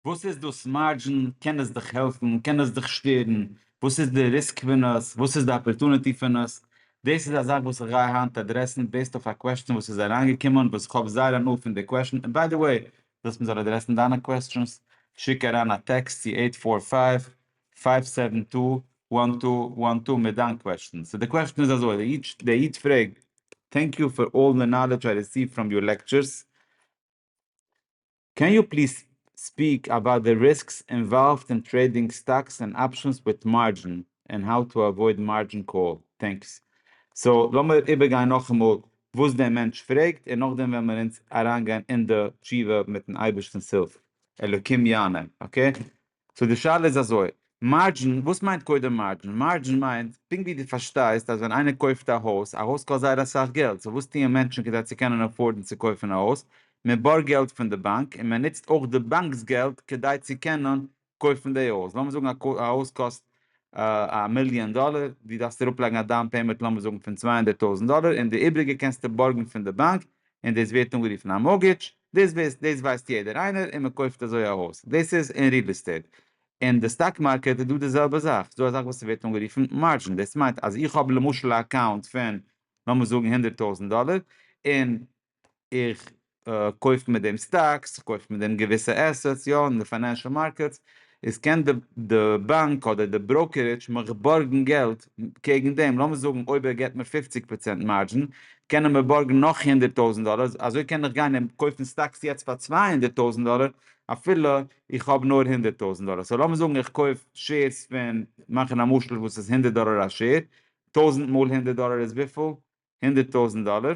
וואס איז דאס מארדזשין? קען עס דיך העלפן? קען עס דיך שטערן? וואס איז די ריסק פון עס? וואס איז די אפערטוניטי פון עס? דאס איז א זאך וואס איך גיי היינט אדרעסן בעיסד אויף א קוועסטשען וואס איז אריינגעקומען וואס איך האב זייער הנאה פון די קוועסטשען און ביי די וועי ווילסט מ'זאל אדרעסן דיינע קוועסטשענס שיק אריין א טעקסט צו עיט פאר פייוו פייוו סעווען טו וואן טו וואן טו מיט דיין קוועסטשען. סאו די קוועסטשען איז אזוי, די איד פרעגט, טענק יו פאר אלל די נאלעדזש איי ריסיוו פראם יור לעקטשערס, קען יו פליז ספיעק אבאוט די ריסקס אינוואלווד אין טרעידינג סטאקס ענד אפשענס וויט מארדזשין ענד האו טו עוואויד מארדזשין קאל? טענקס. סאו לאמיר איבערגיין נאכאמאל וואס דער מענטש פרעגט און נאכדעם וועלן מיר אונז אריינגיין אין די תשובה מיטן אייבערשטנ'ס הילף. אלוקים יענה. אקעי. סאו די שאלה איז אזוי, מארדזשין, וואס מיינט קודם מארדזשין? מארדזשין מיינט, פונקט ווי דו פארשטייסט אז ווען איינער קויפט א הויז, א הויז קאסט זייער אסאך געלט, סאו וואס טוען מענטשן כדי צו קענען עפארדן צו קויפן א הויז? מען בארגט געלט פון די באנק, און מען נוצט אויך די באנק'ס געלט כדי צו קענען קויפן די הויז. לאמיר זאגן א הויז קאסט א מיליאן דאלער, דו דארפסט אראפלייגן א דאון פעימענט לאמיר זאגן פון צוויי הונדערט טויזנט דאלער, און די איבריגע קענסטו בארגן פון די באנק, און דאס ווערט אנגערופן א מארגעדזש, דאס ווייסט יעדער איינער און מען קויפט אזוי א הויז, דאס איז אין ריעל עסטעיט, אין די סטאק מארקעט איז דא די זעלבע זאך, ס'איז דא אזאך וואס ס'ווערט אנגערופן מארדזשין, דאס מיינט אז איך האב למשל א אקאונט פון לאמיר זאגן הונדערט טויזנט דאלער, און איך קויף מיט דעם סטאקס, איך קויף מיט דעם געוויסע עסעטס, יא, אין די פיינענשעל מארקעטס, איז קען די די באנק אדער די בראוקערידזש מיך בארגן געלט קעגן דעם, לאמיר זאגן אויב ער געט מיר פופציג פראצענט מארדזשין קען ער מיר בארגן נאך הונדערט טויזנט דאלער, אזוי קען איך גיין און קויפן סטאקס יעצט פאר צוויי הונדערט טויזנט דאלער אפילו איך האב נאר הונדערט טויזנט דאלער, סאו לאמיר זאגן איך קויף שעירס פון, מאכן א משל וואס איז הונדערט דאלער א שעיר, טויזנט מאל הונדערט דאלער איז וויפיל? הונדערט טויזנט דאלער,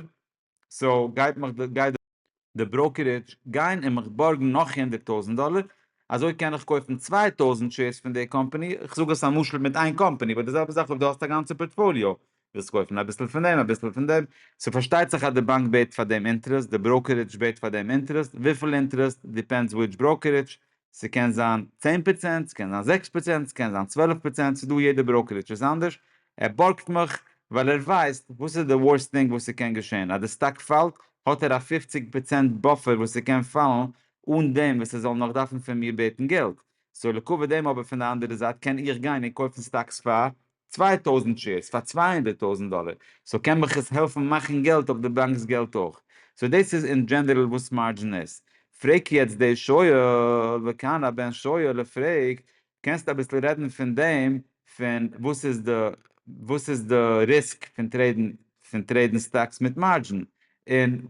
סאו גייט מיך די גייט די בראוקערידזש גיין און מיך בארגן נאך הונדערט טויזנט דאלער, אזוי קען איך קויפן צוויי טויזנט שעירס פון די קאמפאני, איך זאג עס א משל מיט איין קאמפאני, באט די זעלבע זאך אויב די האסט א גאנצע פארטפאליאו, ווילסט קויפן אביסל פון דעם אביסל פון דעם, סאו פארשטייט זיך אז די באנק בעט פאר דעם אינטערעסט, די בראוקערידזש בעט פאר דעם אינטערעסט, וויפיל אינטערעסט דיפענדס וויטש בראוקערידזש, ס'קען זיין צען פראצענט, ס'קען זיין זעקס פראצענט, ס'קען זיין צוועלף פראצענט, ס'איז דא יעדע בראקערידזש איז אנדערש, ער בארגט מיך ווייל ער ווייסט וואס איז די ווארסט טינג וואס ס'קען געשען, אז די סטאק פאלט האט ער א פופציג פראצענט באפער וואס ס'קען פאלן אן דעם וואס ער זאל נאך דארפן פון מיר בעטן געלט, סאו לעקאווע דעם אבער פון די אנדערע זייט קען איך גיין און קויפן סטאקס פאר צוויי טויזנט שעירס פאר צוויי הונדערט טויזנט דאלער, סאו קען מיך עס העלפן מאכן געלט אויף די באנקס געלט אויך? סאו דאס איז אין דזשענערל וואס מארדזשין איז. פרעג יעצט די שואל, וכאן הבן שואל פרעגט, קענסט אביסל רעדן פון דעם פון וואס איז די וואס איז די ריסק פון טרעידן פון טרעידן סטאקס מיט מארדזשין, און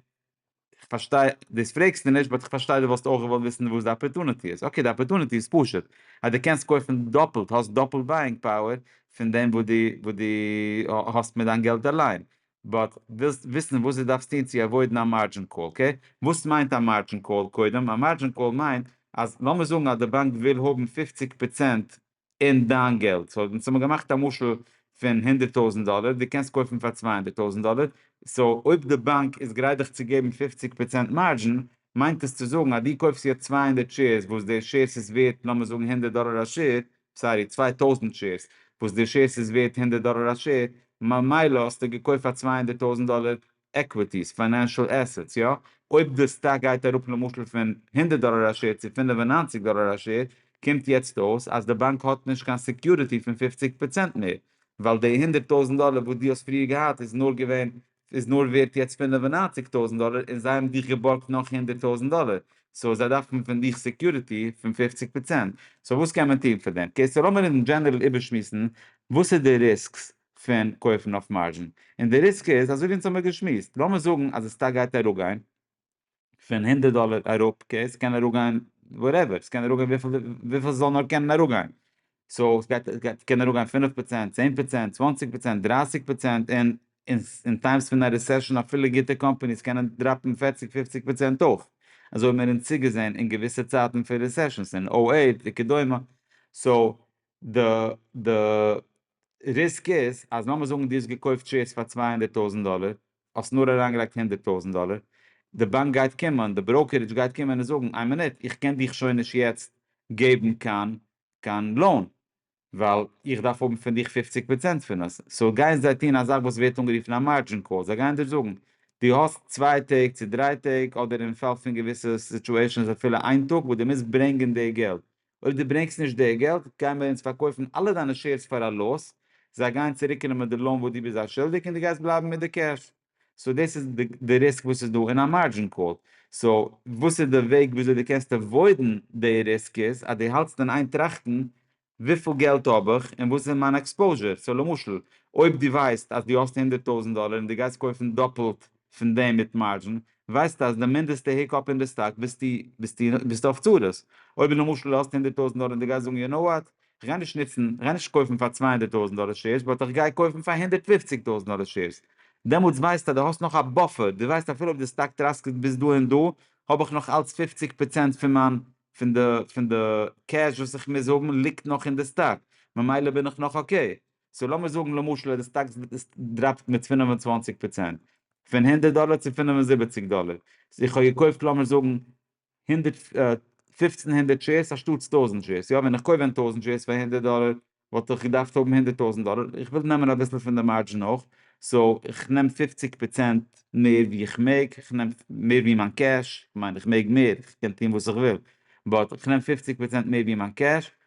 איך פארשטיי דאס פרעגסטו נישט באט איך פארשטיי דו וואלסט אויך געוואלט וויסן וואס די אפערטוניטי איז, אקעי די אפערטוניטי איז פשוט אז דו קענסט קויפן דאפלט האסט דאפלט בייאינג פאוער פון דעם וואס דו וואס דו האסט מיט דיין געלט אליין, באט ווילסט וויסן וואס דו דארפסט טון צו עוואוידן א מארדזשין קאל, אקעי וואס מיינט א מארדזשין קאל קודם? א מארדזשין קאל מיינט אז לאמיר זאגן אז די באנק וויל האבן פֿופֿציק פראצענט און דיין געלט. סאו אונז האמיר געמאכט א משל פון הונדערט טויזנט דאלער, דו קענסט קויפן פאר צוויי הונדערט טויזנט דאלער, סאו אויב די באנק איז גרייט דיך צו געבן פופציג פראצענט מארדזשין, מיינט עס צו זאגן אז דו קויפסט יעצט צוויי הונדערט שעירס וואס די שעירס איז ווערט לאמיר זאגן הונדערט דאלער א שעיר, סארי צוויי טויזנט שעירס וואס די שעירס איז ווערט הונדערט דאלער א שעיר, ממילא האסטו געקויפט פאר צוויי הונדערט טויזנט דאלער עקוויטיס, פיינענשעל עסעטס, יא? אויב די סטאק גייט אראפ למשל פון הונדערט דאלער א שער צו פֿינף און נײַנציק דאלער א שער, קומט יעצט אויס אז די באנק האט נישט קיין סעקיוריטי פון פופציג פראצענט מער, ווייל די הונדערט טויזנט דאלער וואס דו האסט פריער געהאט איז נאר געווען איז נאר ווערט יעצט פֿינף און נײַנציק טויזנט דאלער און זיי האבן דיך געבארגט נאך הונדערט טויזנט דאלער, סאו זיי דארפן פון דיך סעקיוריטי פון פופציג פראצענט, סאו וואס קען מען טון פאר דעם? אקעי סאו לאמיר אין דזשענערל איבערשמועסן וואס איז די ריסקס פון קויפן אויף מארזשין, און די ריסק איז אזוי ווי אונז האמיר געשמועסט, לאמיר זאגן אז די סטאק גייט אראפגיין פון הונדערט דאלער אראפ, אקעי ס'קען אראפגיין וואטעווער, ס'קען אראפגיין וויפיל ס'זאל נאר קענען אראפגיין, סאו סגייט קענען אראפגיין פֿינף פראצענט, צען פראצענט, צוואַנציק פראצענט, דרײַסיק פראצענט, און אין טיימס פון א רעסעשאן אפילו גוטע קאמפאניס קענען דראפן פֿערציק פֿופֿציק פראצענט אויך, אזוי האמיר אונז צוגעזען אין געוויסע צייטן פון רעסעשאנס אין אָ אַכט וכדומה, סאו די די. ריסק איז אז לאמיר זאגן דו האסט געקויפט שעירס פאר צוויי הונדערט טויזנט דאלער, האסט נאר אריינגעלייגט הונדערט טויזנט דאלער, די באנק גייט קומען, די בראוקערידזש גייט קומען און זאגן, איין מינוט, איך קען דיך שוין נישט יעצט געבן קיין קיין לאון, ווייל איך דארף האבן פון דיך פופציג פראצענט פון עס, סאו גייען זיי טון א זאך וואס ווערט אנגערופן א מארדזשין קאל, זיי גייען דיר זאגן, דו האסט צוויי טעג צו דריי טעג, אדער אין פאל פון געוויסע סיטועשאנס אפילו איין טאג, וואס דו מוזט ברענגען די געלט, אויב דו ברענגסט נישט די געלט גייען מיר אונז פארקויפן אלע דיינע שעירס פאר א לאס, זיי גייען צוריקנעמען די לאון וואס דו ביסט זיי שולדיג און דו גייסט בלייבן מיט די קעש. סאו דאס איז די ריסק וואס איז דא אין א מארדזשין קאל. סאו וואס איז די וועג וויאזוי דו קענסט עוואוידן די ריסק איז אז דו האלטסט אין איין טראכטן וויפיל געלט האב איך און וואס איז מיין עקספאוזשער. סאו למשל אויב דו ווייסט אז דו האסט הונדערט טויזנט דאלער און דו גייסט קויפן דאפלט פון דעם מיט מארדזשין, ווייסטו אז די מינדעסטע היק אפ אין די סטאק ביסטו ביסטו אויף צרות, אויב למשל האסטו הונדערט טויזנט דאלער און די גייסט זאגן יו נאו וואט, כ'גיי נישט נוצן, כ'גיי נישט קויפן פאר צוויי הונדערט טויזנט דאלער שעירס באט כ'גיי קויפן פאר הונדערט פֿופֿציק טויזנט דאלער שעירס, דעמאלטס ווייסטו אז די האסט נאך א באפער, די ווייסט אפילו אויב די סטאק טראסקעט ביז דא און דא, האב איך נאך אלץ פֿופֿציק פראצענט פון מיין פון די פון די קעש וואס איך מוז האבן ליגט נאך אין די סטאק, ממילא בין איך נאך אקעי, סאו לאמיר זאגן למשל אז די סטאקס דראפט מיט פֿינף און צוואַנציק פראצענט, פון הונדערט דאלער צו פֿינף און זיבעציק דאלער, איך האב געקויפט לאמיר זאגן הונדערט פֿופֿצן הונדערט שעירס אנשטאטס טויזנט שעירס, יא ווען איך קויף ווען טויזנט שעירס פאר הונדערט דאלער וואלט איך געדארפט האבן הונדערט טויזנט דאלער, איך וויל נעמען אביסל פון די מארדזשין אויך, סאו איך נעם פֿופֿציק פראצענט מער ווי איך מעג, איך נעם מער ווי מיין קעש, כ'מיין איך מעג מער, איך קען טון וואס איך וויל, באט איך נעם פֿופֿציק פראצענט מער ווי מיין קעש,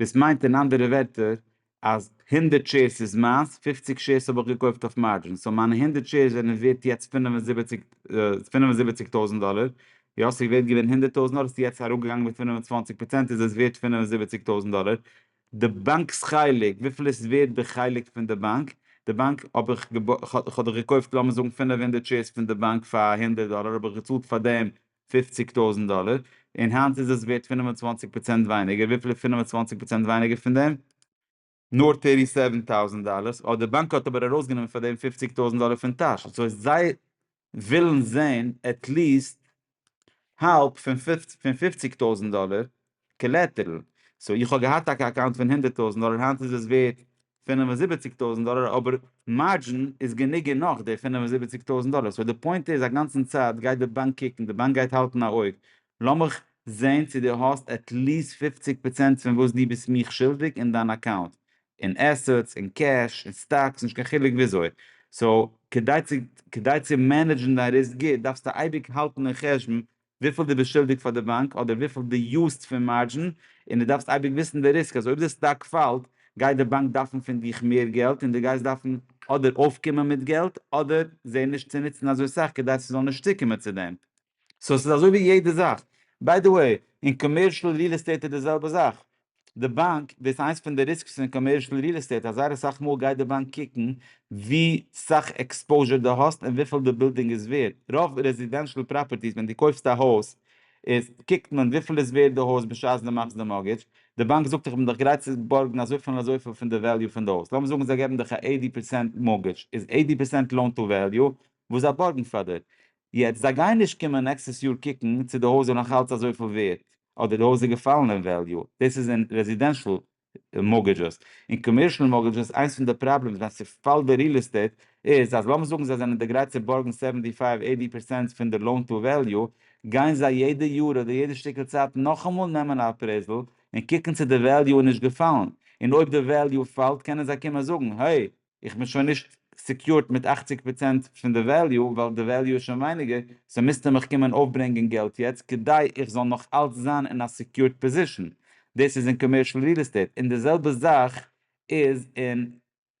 דאס מיינט אין אנדערע ווערטער אז הונדערט שעירס איז מיינס, פופציג שעירס האב איך געקויפט אויף מארדזשין, סאו מיינע הונדערט שעירס זענען ווערט יעצט פינף און זיבעציג פינף און זיבעציג טויזנט דאלער, יא ס'איז ווערט געווען הונדערט טויזנט דאלער ס'איז יעצט אראפגעגאנגען מיט פינף און צוואנציג פראצענט איז עס ווערט פינף און זיבעציג טויזנט דאלער, די באנק'ס חלק וויפיל עס ווערט די חלק פון די באנק, די באנק האב איך כ'האב דאך געקויפט לאמיר זאגן פינף הונדערט שעירס פון די באנק פאר הונדערט דאלער האב איך געצאלט פאר דעם פֿופֿציק טויזנט דאלער, און היינט איז עס ווערט פֿינף און צוואַנציק פראצענט ווייניגער, וויפיל איז פֿינף און צוואַנציק פראצענט ווייניגער פון דעם? נאר טערטי סעווען טאוזענט דאלערס, אט די באנק האט אבער ארויסגענומען פאר דעם פֿופֿציק טויזנט דאלער פון טאש, סאו זיי ווילן זען עטליעסט האלב פון פֿופֿציק טויזנט דאלער, קאלעטערל, סאו איך האב געהאט טאקע א אקאונט פון הונדערט טויזענט דאלער היינט איז עס ווערט פינף און זיבעציג טויזענט דאלער אבער מארדזשין איז גענוג און נאך די פינף און זיבעציג טויזענט דאלער סאו די פוינט איז א גאנצן צייט גייט די באנק קוקן די באנק גייט האלטן א אויג לאמיך זעהן צו די האסט עטליעסט פופציג פראצענט פון וואס די ביסט מיך שולדיג אין דיין אקאונט אין עסעטס אין קעש אין סטאקס נישט קיין חילוק וויאזוי סאו כדי צו כדי צו מענעדזשן דיין ריסק גוט דארפסטו אייביג האלטן אין חשבון וויפיל דו ביסט שולדיג פאר די באנק אדער וויפיל דו יוזסט פון מארדזשין, און דו דארפסט אייביג וויסן די ריסק אז אויב די סטאק פאלט גייט די באנק דארפן פון דיך מער געלט און דו גייסט דארפן אדער אויפקומען מיט געלט אדער זיי נישט צו נוצן אזוי סאך כדי ס'זאל נישט צוקומען צו דעם. סאו ס'איז אזוי ווי יעדע זאך. ביי די וועי, אין קאמערשל ריעל עסטעיט איז די זעלבע זאך. די באנק, דאס איז איינס פון די ריסקס פון קאמערשל ריעל עסטעיט אז זייער אסאך מאל גייט די באנק קוקן ווי סאך עקספאוזשער דו האסט און וויפיל די בילדינג איז ווערט, רוב רעזידענשאל פראפערטיס ווען דו קויפסט א הויז איז קוקט מען וויפיל איז ווערט די הויז בשעת דו מאכסט די מארגעדזש, די באנק זאגט דיך איך בין דיך גרייט צו בארגן אזויפיל און אזויפיל פון די וועליו פון די הויז, לאמיר זאגן זיי געבן דיך א עיטי פערצענט מארגעדזש איז עיטי פערצענט לאון טו וועליו וואס זיי בארגן פאר דיר, יעצט זיי גייען נישט קומען נעקסטעס יאר קוקן צו די הויז איז נאך אלץ אזויפיל ווערט אדער די הויז איז געפאלן אין וועליו, דאס איז אין רעזידענשאל מארגעדזשעס, אין קאמערשאל מארגעדזשעס איינס פון די פראבלעמס ווען ס'פאלט די ריעל עסטעיט איז אז לאמיר זאגן זיי זענען די גרייט צו בארגן סעווענטי פייוו עיטי פערסענט פון די לאון טו וועליו גיין זיי יעדע יאר אדער יעדע שטיקל צייט נאכאמאל נעמען א אפרעיזעל און קוקן צו די וועליו איז נישט געפאלן און אויב די וועליו פאלט קענען זיי קומען זאגן העי איך בין שוין נישט סעקיורד מיט אַכציק פראצענט פון די וועליו ווייל די וועליו איז שוין ווייניגער, סאו מוזטו מיך קומען אויפברענגען געלט יעצט כדי איך זאל נאך אלץ זיין אין א סעקיורד פאזישן, דאס איז אין קאמערשל ריעל עסטעיט, און די זעלבע זאך איז אין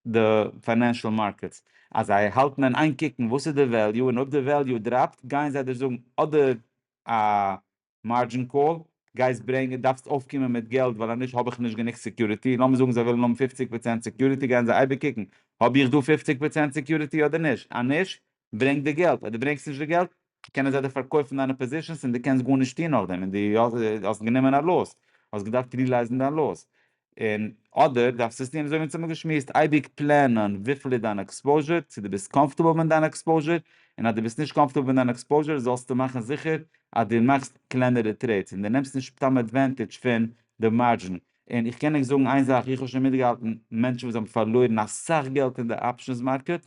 די פיינענשל מארקעטס, אז זיי האלטן אין איין קוקן וואס איז די וועליו און אויב די וועליו דראפט גייען זיי דיר זאגן אדער א מארדזשין קאל, גייסט ברענגען, דארפסט אויפקומען מיט געלט ווייל אז נישט האב איך נישט גענוג סעקיוריטי, לאמיר זאגן זיי ווילן האבן פופציג פראצענט סעקיוריטי גייען זיי אייביג קוקן האב איך דא פופציג פראצענט סעקיוריטי אדער נישט, אז נישט ברענג די געלט, אויב דו ברענגסט נישט די געלט קענען זיי דיר פארקויפן דיינע פאזישענס און דו קענסט גארנישט טון נאכדעם און דו האסט גענומען א לאס, האסט געדארפט רילייזן דיין לאס, און אדער דארפסטו עס טון אזוי ווי אונז האבן געשמועסט, אייביג פלענען וויפיל איז דיין עקספאוזשער, צו דו ביסט קאמפארטעבל מיט דיין עקספאוזשער, און אז דו ביסט נישט קאמפארטעבל מיט דיין עקספאוזשער זאלסטו מאכן זיכער אז דו מאכסט קלענערע טרעידס, און דו נעמסט נישט סתם עדווענטעדזש פון די מארדזשין. און איך קען ענק זאגן איין זאך, איך האב שוין מיטגעהאלטן מענטשן וואס האבן פארלוירן אסאך געלט אין די אפשענס מארקעט,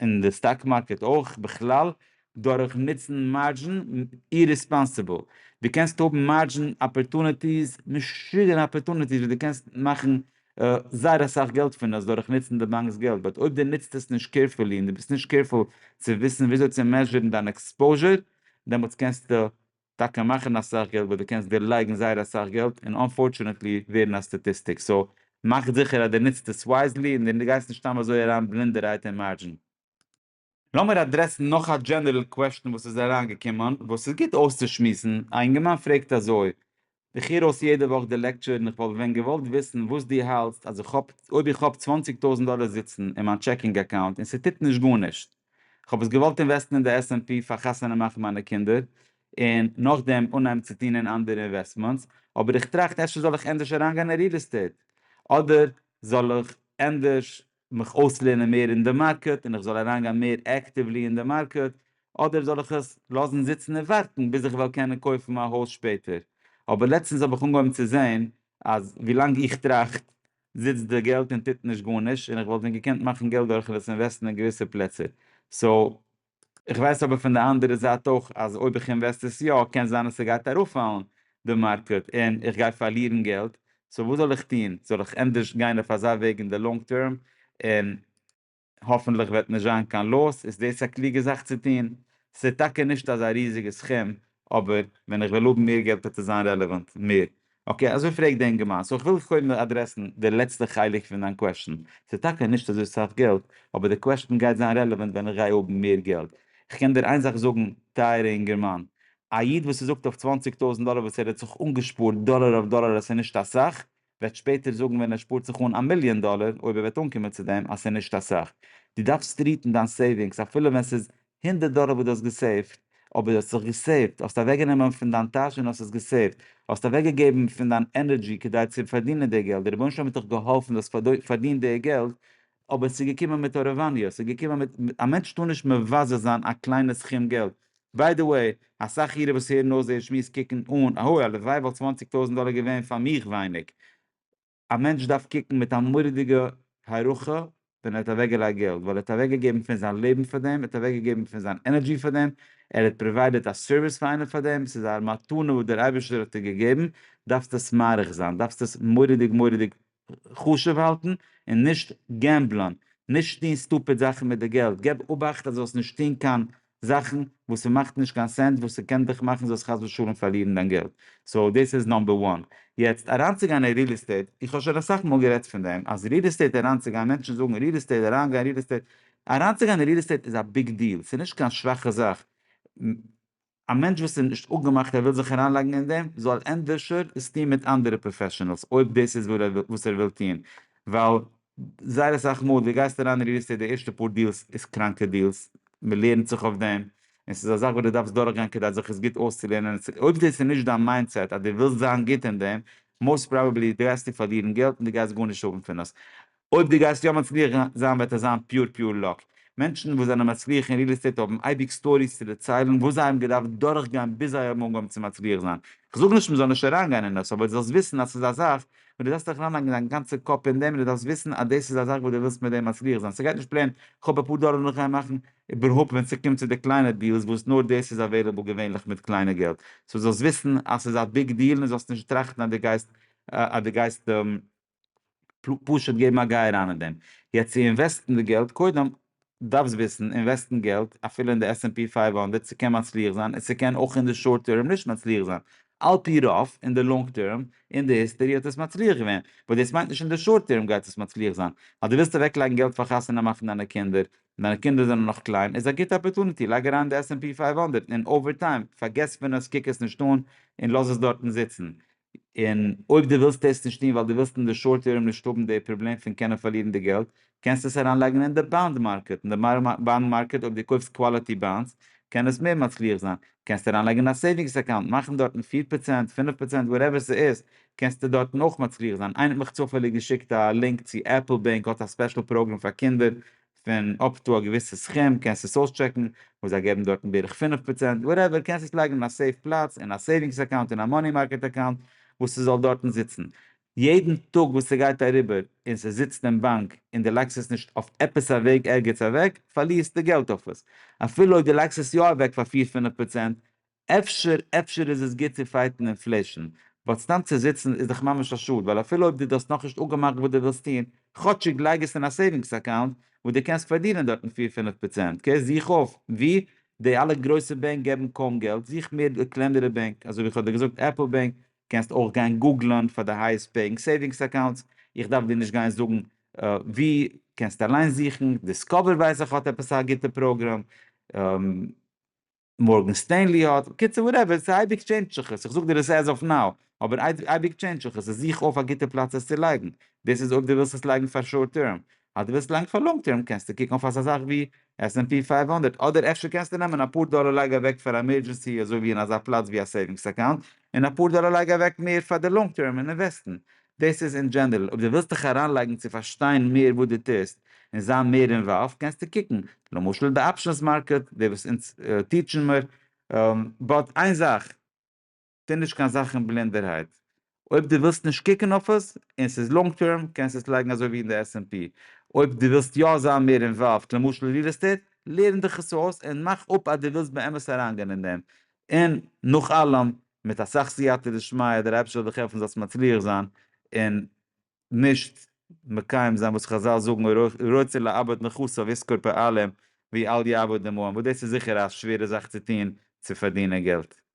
און די סטאק מארקעט אויך בכלל, דורך נוצן מארדזשין אירעספאנסיבל. דו קענסט האבן מארדזשין אפערטוניטיס, משוגענע אפערטוניטיס וואס דו קענסט מאכן זייער אסאך געלט פון עס דורך נוצן די באנק'ס געלט, באט אויב דו נוצט עס נישט קעירפולי און דו ביסט נישט קעירפול צו וויסן וויאזוי צו מעזשערן דיין עקספאוזשער, דעמאלטס קענסטו טאקע מאכן אסאך געלט וואס דו קענסט דערלייגן זייער אסאך געלט און אנפארטשענעטלי ווערן א סטאטיסטיק סאו מאך זיכער אז דו ניצט עס ווייזלי און דו גייסט נישט סתם אזוי אריין בלינדערהייט אין מארדזשין. לאמיר אדרעסן נאך א דזשענערל קוועשטן וואס איז אריינגעקומען וואס איז גוט אויסצושמועסן, א אינגערמאן פרעגט אזוי, איך הער אויס יעדע וואך די לעקטשור און איך וואלט ווען געוואלט וויסן וואס דו האלטסט אז איך האב אויב איך האב צוואַנציק טויזנט דאלער זיצן אין מיין טשעקינג אקאונט און ס'טוט נישט גארנישט, איך האב עס געוואלט אינוועסטן אין די SNP פאר חתונה מאכן מיינע קינדער און נאכדעם אנהייבן צו טון אין אנדערע אינוועסטמענטס, אבער איך טראכט אפשר זאל איך ענדערש אריינגיין אין ריעל עסטעיט אדער זאל איך ענדערש מיך אויסלערנען מער אין די מארקעט און איך זאל אריינגיין מער עקטיוולי אין די מארקעט, אדער זאל איך עס לאזן זיצן און ווארטן ביז איך וועל קענען קויפן מיין הויז שפעטער, אבער לעצטנס האב איך אנגעהויבן צו זען אז ווילאנג איך טראכט זיצט די געלט און טוט נישט גארנישט, און איך וואלט ווען געקענט מאכן געלט דורכן עס אינוועסטן אין געוויסע פלעצער, סאו איך ווייס אבער פון די אנדערע זייט אויך אז אויב איך אינוועסט עס יא קען זיין אז ס'גייט ארויפפאלן די מארקעט און איך גיי פארלירן געלט, סאו וואס זאל איך טון? זאל איך ענדערש גיין אויף אזא וועג אין די לאנג טערם און האפענטליך וועט נישט זיין קיין לאס? איז דאס א קלוגע זאך צו טון? ס'איז טאקע נישט אזא ריזיגע סכום אבער ווען איך וועל האבן מער געלט וועט עס זיין רעלעוואנט מער אקעי, אזוי פרעגט די אינגערמאן. סאו כ'וויל דיך קודם אדרעסן די לעצטע חלק פון דיין קוועשטן. ס'איז טאקע נישט אזוי סאך געלט, אבער די קוועשטן גייט זיין רעלעווענט ווען איך גיי האבן מער געלט. כ'קען דיר איין זאך זאגן, טייערע אינגערמאן. א איד וואס איז אויף צוואַנציק טויזנט דאלער וואס ער האט זיך אנגעשפארט דאלער אויף דאלער אז ס'איז נישט אסאך, וועט שפעטער זאגן ווען ער שפארט זיך אן א מיליאן דאלער, אויב ער וועט אנקומען צו דעם, אז ס'איז נישט אסאך. דו דארפסט טריעטן דיין סעיווינגס אפילו ווען ס'איז הונדערט דאלער וואס דו האסט געסעיווט, אבער דו האסט זיך געסעיווט, האסט אוועקגענומען פון דיין טאש און האסט עס געסעיווט, האסט אוועקגעגעבן פון דיין ענערדזשי כדי צו פארדינען די געלט, דער רבונו של עולם האט דיך געהאלפן, דו האסט פארדינט די געלט, אבער עס איז געקומען מיט הארעוואניע, עס איז געקומען מיט, א מענטש טאר נישט מבזה זיין א קליינע סכום געלט, ביי די וועי, אסאך אירע וואס הערן אויס דער שמועס קוקן אן, אהוי, הלוואי וואלט צוואנציג טויזנט דאלער געווען פאר מיך ווייניג, א מענטש דארף קוקן מיט א מורא'דיגע הערכה ווען ער האט אוועקגעלייגט געלט, ווייל ער האט אוועקגעגעבן פון זיין לעבן פאר דעם, ער האט אוועקגעגעבן פון זיין ענערדזשי פאר דעם, ער האט פראוויידעד א סערוויס פאר איינעם פאר דעם, ס'איז א מתנה וואס דער אייבערשטער האט דיר געגעבן, דארפסט עס מעריך זיין, דארפסט עס מורא'דיג מורא'דיג חשוב האלטן, און נישט געמבלען, נישט טון סטופיד זאכן מיט די געלט, געב אובאכט אז דו זאלסט נישט טון קיין זאכן וואס ס'מאכט נישט קיין סענס וואס ס'קען דיך מאכן זאלסט חס ושלום פארלירן דיין געלט, סאו דאס איז נאמבער וואן. יעצט אריינצוגיין אין ריעל עסטעיט, איך האב שוין אסאך מאל גערעדט פון דעם אז ריעל עסטעיט אריינצוגיין, מענטשן זאגן ריעל עסטעיט, אריינגיין ריעל עסטעיט, אריינצוגיין אין ריעל עסטעיט איז א ביג דיעל, ס'איז נישט קיין שוואכע זאך, א מענטש וואס איז נישט אפגעמאכט ער וויל זיך אריינלייגן אין דעם זאל ענדערשער עס טון מיט אנדערע פראפעשענעלס אויב דאס איז וואס ער וויל טון, ווייל זייער אסאך מאל דו גייסט אריין אין ריעל עסטעיט די ערשטע פאר דיעלס איז קראנקע דיעלס, מען לערנט זיך אויף דעם, און ס'איז א זאך וואס דו דארפסט דורכגיין כדי זיך עס גוט אויסצולערנען, אויב דאס איז נישט דיין מיינדסעט אז דו ווילסט זיין גוט אין דעם, מאוסט פראבעבלי גייסטו פארלירן געלט און דו גייסט גארנישט האבן פון עס, אויב דו גייסט יא מצליח זיין וועט עס זיין פיור פיור לאק, מענטשן וואס זענען מצליח אין ריעל עסטעיט האבן אייביג סטאריס צו דערציילן וואס זיי האבן געדארפט דורכגיין ביז זיי האבן אנגעהויבן צו מצליח זיין, כ'זאג נישט מען זאל נישט אריינגיין אין עס אבער דו זאלסט וויסן אז ס'איז א זאך און דו זאלסט דיך אריינלייגן דיין גאנצע קאפ אין דעם און דו דארפסט וויסן אז דאס איז א זאך וואס דו ווילסט מיט דעם מצליח זיין, ס'גייט נישט פלעין כאפ אפאר דאלער און איך גיי מאכן, איבערהויפט ווען ס'קומט צו די קליינע דיעלס וואס נאר דאס איז אוועילעבל געווענליך מיט קליינע געלט, סאו זאלסט וויסן אז ס'איז א ביג דיעל און זאלסט נישט טראכטן אז דו גייסט אז דו גייסט פשוט געבן א גיי אריין אין דעם, יעצט צו אינוועסטן די געלט, קודם דארפסט וויסן, אינוועסטן געלט, אפילו אין די עס-ענד-פי פֿינף הונדערט, ס'קען מצליח זיין, און ס'קען אויך אין די שארט טערם נישט מצליח זיין. על פי רוב, אין די לאנג טערם, אין די היסטערי האט עס מצליח געווען, באט דאס מיינט נישט אין די שארט טערם גייט עס מצליח זיין. אז דו ווילסט אוועקלייגן געלט פאר חתונה מאכן דיינע קינדער, און דיינע קינדער זענען נאך קליין, איז א גוטע אפערטוניטי, לייג אריין אין די עס-ענד-פי פֿינף הונדערט, און אווער טיים, פארגעס פון עס, קוק עס נישט אן, און לאז עס דארטן זיצן. און אויב דו ווילסט דאס נישט טון ווייל דו ווילסט אין די שארט טערם נישט האבן די פראבלעם פון קענען פארלירן די געלט, קענסטו עס אריינלייגן אין די באנד מארקעט, אין די באנד מארקעט אויב דו קויפסט קוואליטי באנדס קען עס מער מצליח זיין, קענסטו אריינלייגן אין א סעיווינגס אקאונט, מאכן דארטן פֿיר פראצענט, פֿינף פראצענט, וואטעווער ס'איז, קענסטו דארטן אויך מצליח זיין, איינער האט מיך צופעליג געשיקט א לינק צו עפל בענק האט א ספעשל פראגרעם פאר קינדער פון אפ טו א געוויסע סכום, קענסט עס אויסטשעקן, וואס זיי געבן דארטן בערך פֿינף פראצענט, וואטעווער, קענסט עס לייגן אין א סעיף פלאץ, אין א סעיווינגס אקאונט, אין א מאני מארקעט אקאונט, וואס ס'זאל דארטן זיצן. יעדן טאג וואס ס'גייט אריבער און ס'זיצט אין באנק און דו לייגסט עס נישט אויף עפעס א וועג ערגעץ אוועק, פארלירסטו געלט אויף עס. אפילו אויב דו לייגסט עס יא אוועק פאר פֿיר פֿינף פראצענט, אפשר אפשר איז עס גוט צו פייטן אינפלעישן, באט סתם צו זיצן איז דאך ממש א שאד, ווייל אפילו אויב דו דאסט נאכנישט אפגעמאכט וואס דו ווילסט טון, כאטשיג לייג עס אין א סעיווינגס אקאונט וואו דו קענסט פארדינען דארטן פיר פינף פראצענט, אקעי זוך אויף ווי, די אלע גרויסע בענק געבן קוים געלט, זוך מער קלענערע בענק, אזוי ווי איך האב דיר געזאגט עפל בענק, קענסט אויך גיין גוגלען פאר די הייעסט פעיאינג סעיווינגס אקאונטס, איך דארף דיר נישט גיין זאגן ווי, קענסט אליין זוכן, דיסקאווער ווייס איך האט עפעס א גוטע פראגראם. מארגען סטענלי האט, בקיצור וואטעווער, ס'איז אייביג טשעינדזש זיך עס, איך זאג דיר עס עז אף נאו, אבער אייביג טשעינדזש זיך עס, זוך אויף א גוטע פלאץ עס צו לייגן, דאס איז אויב דו ווילסט עס לייגן פאר שארט טערם, אז דו ווילסט לייגן פאר לאנג טערם קענסטו קוקן אויף אזא זאך ווי עס ענד פי פֿינף הונדערט, אדער אפשר קענסטו נעמען אפאר דאלער לייג אוועק פאר עמערדזשענסי אזוי ווי אין אזא פלאץ ווי א סעיווינגס אקאונט, און אפאר דאלער לייג אוועק מער פאר די לאנג טערם און אינוועסטן, דאס איז אין דזשענערל, אויב דו ווילסט דיך אריינלייגן צו פארשטיין מער וואס דו טוסט און זיין מער אינוואלווד קענסטו קוקן, למשל די אפשענס מארקעט, די וואס אונז טיטשן מיר, באט איין זאך, טו נישט קיין זאכן בלינדערהייט, אויב דו ווילסט נישט קוקן אויף עס און ס'איז לאנג טערם קענסטו עס לייגן אזוי ווי אין די עס ענד פי, אויב דו ווילסט יא זיין מער אינוואלווד למשל ריעל עסטעיט, לערן דיך עס אויס און מאך אפ אז דו ווילסט באמת אריינגיין אין דעם, און נאך אלעם מיט אסאך סייעתא דשמיא דער אייבערשטער זאל דיך העלפן זאלסט מצליח זיין און נישט מקיים זיין וואס חזל זאגן רוצה לאבד נכסיו יזכור פעלים ווי אל יאבד דמעון וואס דאס איז זיכער א שווערע זאך צו טון צו פארדינען געלט.